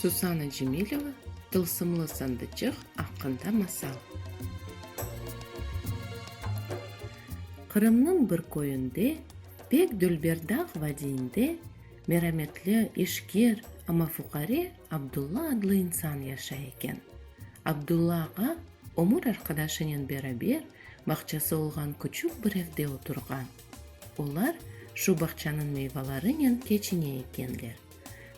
Susana Cemileva Tılsımlı sandıçıq aqqında masal Qırımnıñ bir köyünde, pek dülber dağ vadiyinde, merametli, işker, amma fuqare Abdulla adlı insan yaşay eken. Abdulla ağa Ömür arqadaşınen beraber bağçası olğan küçük bir evde oturğan. Olar şu bağçanıñ meyvalarınen keçine ekenler.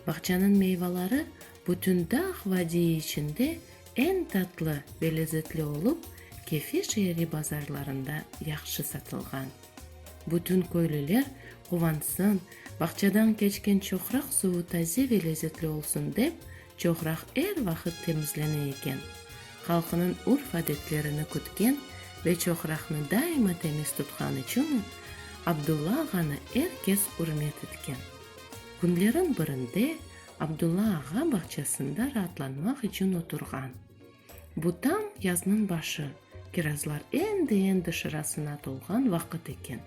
Bağçanıñ meyvaları bütün dağ vadiyi içinde eñ tatlı ve lezetli olıp, Kefe şeeri bazarlarında yahşı satılğan. Bütün köylüler quvansın, bağçadan keçken çoqraq suvu taze ve lezetli olsun dep, Çoqraq er vaqıt temizlene eken. Halqınıñ urf-adetlerini kütken ve çoqraqnı daima temiz tutqanı içün Abdulla ağanı er kes ürmet etken. Künleriñ birinde Abdulla ağa bağçasında raatlanmaq içün oturğan. Bu tam yaznıñ başı, kirazlar endi-endi şırasına tolğan vaqıt eken.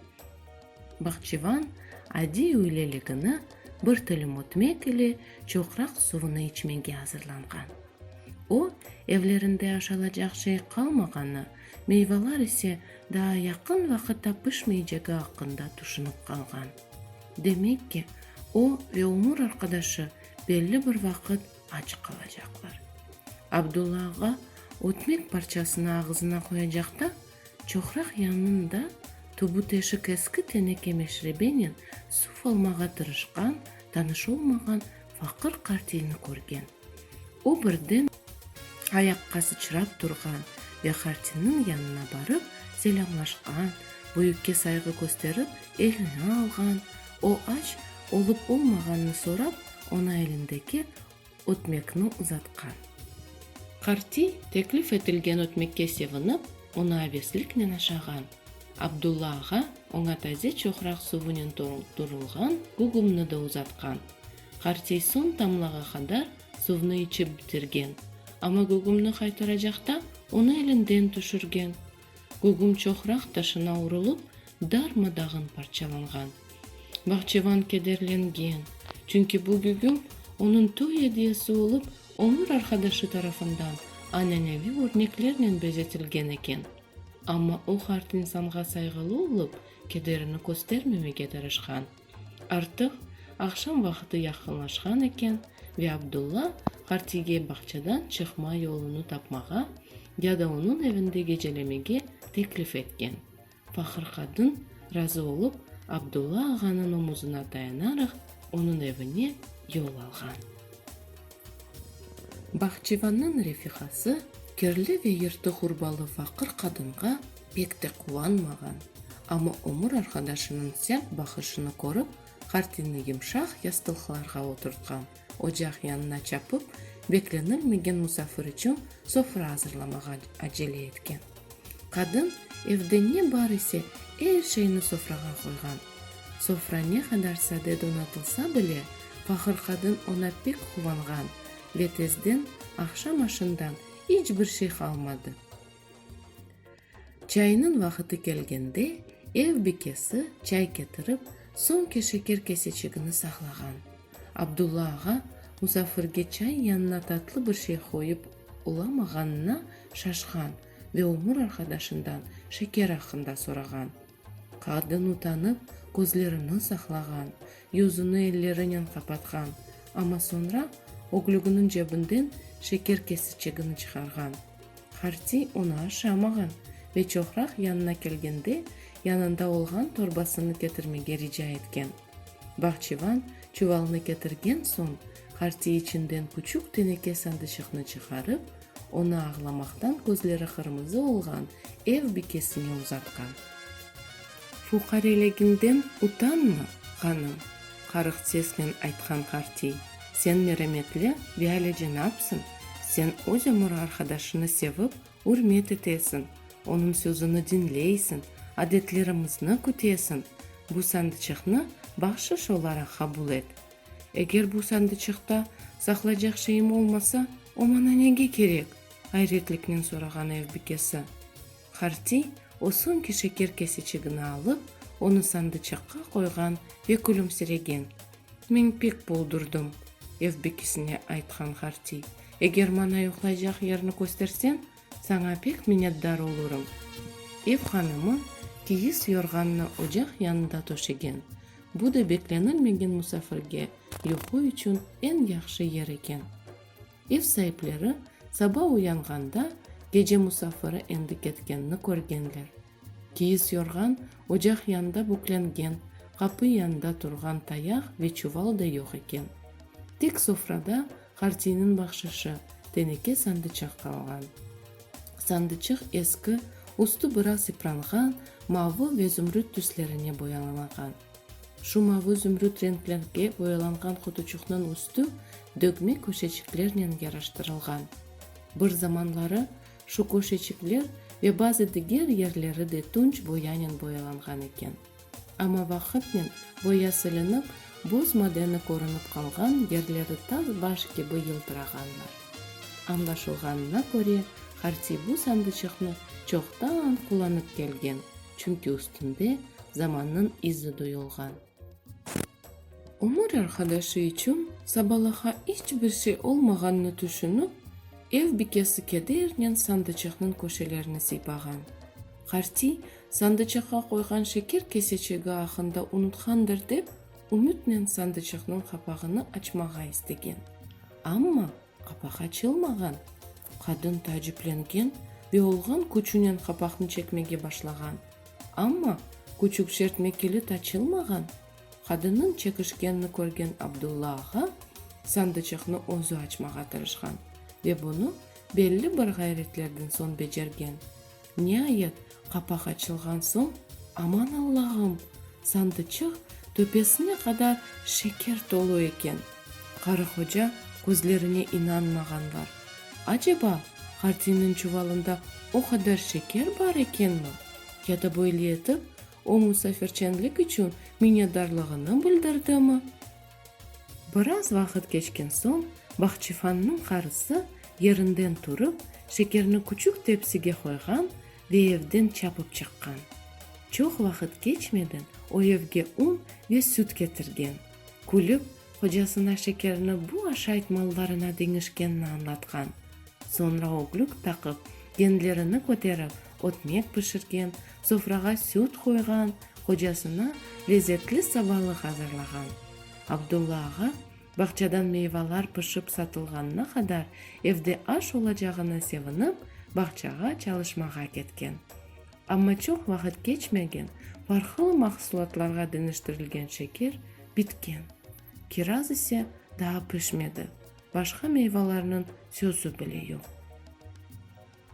Bahçıvan adiy üyleligini bir tilim ötmek ile çoqraq suvını içmege azırlanğan. O, evlerinde aşalacaq şey qalmağanı, meyvalar ise daa yaqın vaqıtta pişmeycegi aqqında tüşünip qalğan. Demek ki, o ve ömür arqadaşı belli bir vaqıt aç qalacaqlar. Abdulla ağa ötmek parçasını ağızına qoyacaqta. Çoqraq yanında tubu-teşik eski teneke meşrebenen suv almağa tırışqan, tanış olmağan faqır qartiyni körgen. O birden ayaqqa sıçrap turğan ve qartiyniñ yanına barıp selâmlaşqan, büyükke sayğı kösterip elini alğan, o aç olıp-olmağanını sorap, oña elindeki ötmekni uzatqan. Qartiy, teklif etilgen ötmekke sevinip, onı avesliknen aşağan. Abdulla ağa oña taze çoqraq suvınen toldurılğan gugumnı da uzatqan. Qartiy soñ tamlağa qadar suvnı içip bitirgen, amma gugumnı qaytaracaqta onı elinden tüşürgen. Gugum çoqraq taşına urulıp, darma-dağın parçalanğan. Bahçevan kederlengen, çünki bu gugum onıñ toy ediyesi olıp, ömür arqadaşı tarafından an'aneviy örneklernen bezetilgen eken. Amma o, qart insanğa sayğılı olıp, kederini köstermemege tırışqan. Artıq aqşam vaqıtı yaqınlaşqan eken ve Abdulla Qartige bağçadan çıqma yolunı tapmağa ya da onıñ evinde gecelemege teklif etken. Faqır qadın, razı olıp, Abdulla ağanıñ omuzına dayanaraq, onıñ evine yol alğan. Bahçivannıñ refihası kirli ve yırtı hurbalı faqır qadınğa pek de quvanmağan, amma ömür arqadaşınıñ sert baqışını körip, Hartinni yımşaq yastılqlarğa oturtqan, ocaq yanına çapıp, beklenilmegen musafir içün sofra azırlamağa acele etken. Qadın evde ne bar ise, er şeyni sofrağa qoyğan. Sofra ne qadar sade donatılsa bile, faqır qadın oña pek quvanğan ve tezden aqşam aşından iç bir şey qalmadı. Çayınıñ vaqıtı kelgende, ev bikesi çay ketirip, soñki şeker keseçigini saqlağan. Abdulla ağa musafirge çay yanına tatlı bir şey qoyıp, Olamağanına şaşqan ve ömür arqadaşından şeker aqqında sorağan. Qadın utanıp, közlerini saqlağan, yüzüni ellerinen qapatqan, amma soñra öglüginiñ cebinden şeker kesiçegini çıqarğan. Harti onı aşamağan ve çoqraq yanına kelgende yanında olğan torbasını ketirmege rica etken. Bahçıvan çuvalnı ketirgen soñ, hartiy içinden küçük teneke sandıçıqnı çıqarıp, onı ağlamaqtan közleri qırmızı olğan ev bikesine uzatqan. Fuqareliginden utanma, hanım, qarıq sesnen aytqan hartiy, sen merametli ve alicenapsıñ, sen öz ömür arqadaşını sevip, Ürmet etesiñ, onıñ sözüni diñleysiñ, adetlerimizni kütesiñ, bu sandıçıqnı bahşış olaraq qabul et. Eger bu sandıçıqta saqlaycaq şeyim olmasa, o maña nege kerek? ayretliknen sorağan ev bikesi. Hartiy o soñki şeker kesiçigini alıp, onı sandıçıqqa qoyğan ve külümsiregen. Men pek boldurdım, ev bekisine aytqan Hartiy. Eger maña yuqlaycaq yerni kösterseñ, saña pek minnetdar olurım. Ev hanımı kiyis yorğannı ocaq yanında töşegen, bu da beklenilmegen musafirge yuqu içün eñ yahşı yer eken. Ev saipleri saba uyanğanda gece musafiri endi ketkenini körgenler. Kiyis yorğan ocaq yanında büklengen, qapı yanında turğan tayaq ve çuval da yoq eken. Tek sofrada Hartiyniñ bahşışı, teneke sandıçıq qalğan. Sandıçıq eski, üstü biraz yıpranğan, mavı ve zümrüt tüslerine boyalanğan. Şu mavı-zümrüt renklerge boyalanğan qutuçuqnıñ üstü dögme köşeçiklernen yaraştırılğan. Bir zamanları şu köşeçikler ve bazı diger yerleri de tunç boyanen boyalanğan eken. Amma vaqıtnen boya silinip, buz madeni körünip qalğan, yerleri tas baş kibi yıldırağanlar. Añlaşılğanına köre, Hartiy bu sandıçıqnı çoqtan qullanıp kelgen. çünki üstünde zamannıñ izi duyulğan. Ömür arqadaşı içün sabalaha iç bir şey olmağannı tüşünip, ev bikesi kedernen sandıçıqnıñ köşelerini sıypağan. Qartiy sandıçıqqa qoyğan şeker keseçigi aqqında unutqandır dep, ümütnen sandıçıqnıñ qapağını açmağa istegen, amma Qapaq açılmağan. Qadın taaciplengen ve olğan küçünen qapaqnı çekmege başlağan. Amma, küçük çertme kilit açılmağan. Qadınnıñ çekişkenini körgen Abdulla ağa sandıçıqnı özü açmağa tırışqan ve bunı belli bir ğayretlerden soñ becergen. Niayet, qapaq açılğan soñ, aman Allağım, sandıçıq töpesine qadar şeker tolu eken. Qarıhoca közlerine inanmağan var. Aceba, Hartinniñ çuvalında o qadar şeker bar ekenmi? Ya da böyle etip, o musafirçenlik içün minnedarlığını bildirdimi? Biraz vaqıt keçken soñ Bahçifannıñ qarısı yerinden turıp, şekerni küçük tepsige qoyğan ve evden çapıp çıqqan. Çoq vaqıt keçmeden o evge un ve süt ketirgen. Külip, hocasına şekerni bu aşayt mallarına deñişkenini añlatqan. Soñra öglük taqıp, genlerini köterip, ötmek pişirgen, sofrağa süt qoyğan, qocasına lezetli sabalıq azırlağan. Abdulla ağa bağçadan meyvalar pişip satılğanına qadar evde aş olacağına sevinip, bağçağa çalışmağa ketken. Amma çoq vaqıt keçmegen, farqlı mahsulatlarğa deñiştirilgen şeker bitken. Kiraz ise daa pişmedi, başqa meyvalarnıñ sözü bile yoq.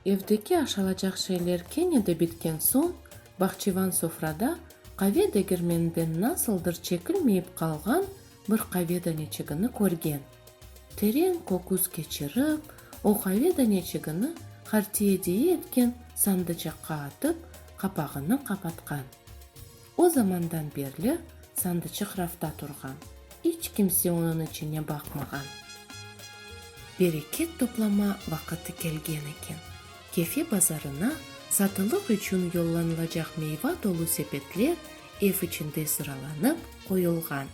Evdeki aşalacaq şeyler kene de bitken soñ, bahçıvan sofrada qave degermeninden nasıldır çekilmeyip qalğan bir qave daneçigini körgen. Teren köküz keçirip, o qave daneçigini hartiye deyi etken sandıcaqqa atıp, qapağını qapatqan. O zamandan berli sandıçıq rafta turğan, iç kimse onıñ içine baqmağan. Bereket toplama vaqıtı kelgen eken. Kefe bazarına satılıq içün yollanılacaq meyva tolu sepetler ev içinde sıralanıp qoyulğan.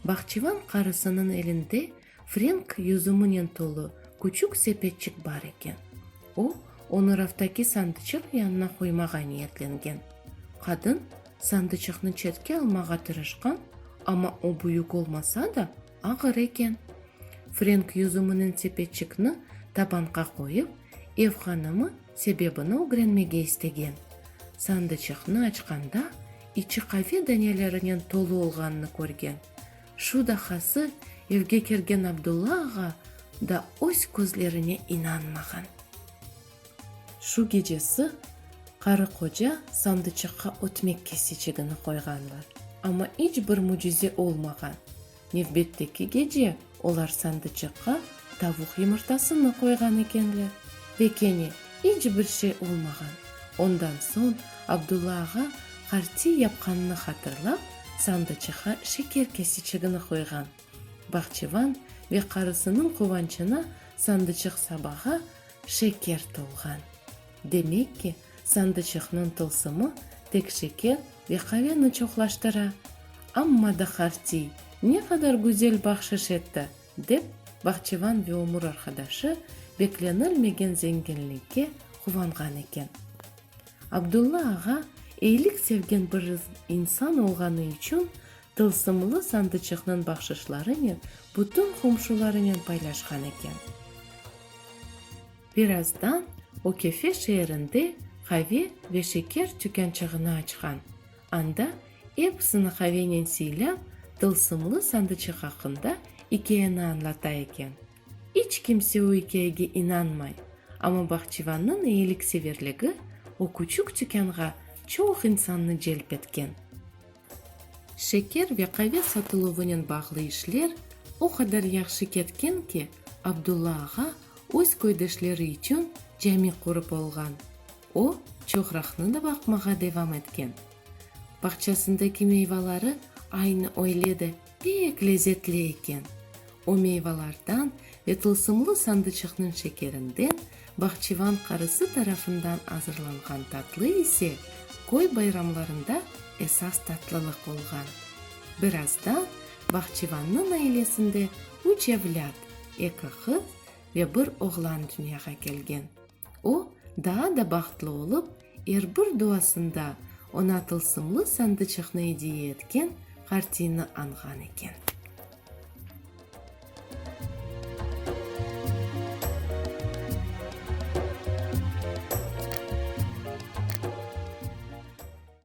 Bahçıvan qarısınıñ elinde Frenk yüzüminen tolu küçük sepetçik bar eken. O, onı raftaki sandıçıq yanına qoymağa niyetlengen. Qadın sandıçıqnı çetke almağa tırışqan, amma o büyük olmasa da, ağır eken. Frenk yüzüminen sepetçikni tabanqa qoyıp, ev hanımı sebebini ögrenmege istegen. Sandıçıqnı açqanda, içi qave danelerinen tolu olğanını körgen. Şu dahası, evge kergen Abdulla ağa da öz közlerine inanmağan. Şu gecesi qarı-qoca sandıçaqqa ötmek kesecegini qoyğanlar, amma iç bir mücize olmağan. Nevbetteki gece olar sandıçaqqa tavuq yımırtasını qoyğan ekenler ve kene iç bir şey olmağan. Ondan soñ Abdulla ağa qartiy yapqanını hatırlap, sandıçıqa şeker kesiçigini qoyğan. Bahçıvan ve qarısınıñ quvançına sandıçıq sabağa şeker tolğan. Demek ki, sandıçıqnıñ tılsımı tek şeker ve qaveni çoqlaştıra. Amma da Hartiy ne qadar güzel bahşış etti! dep, bahçıvan ve ömür arqadaşı beklenilmegen zenginlikke quvanğan eken. Abdulla ağa eyilik sevgen bir insan olğanı içün tılsımlı sandıçıqnıñ bahşışlarınen bütün qomşularınen paylaşqan eken. Birazdan o Kefe şeerinde qave ve şeker tükânçığını açqan, anda episini qavenen siylâp, tılsımlı sandıçıq aqqında ikâyeni añlata eken. İç kimse o ikâyege inanmay, amma Bahçıvannıñ eyilikseverligi o küçük tükânğa çoq insannı celp etken. Şeker ve qave satıluvınen bağlı işler o qadar yahşı ketken ki, Abdulla ağa öz köydeşleri içün cami qurıp olğan. O, çoğraqnı da baqmağa devam etken. Bağçasındaki meyvaları aynı öyle de. Pek lezetli eken. O meyvalardan ve tılsımlı sandıçıqnıñ şekerinden, bahçıvan qarısı tarafından azırlanğan tatlı ise köy bayramlarında esas tatlılıq olğan. Birazdan bahçıvannıñ ailesinde üç evlât, eki qız ve bir oğlan dünyağa kelgen. O, daa da bahtlı olıp, er bir duasında oña tılsımlı sandıçıqnı ediye etken Qartiyni añğan eken.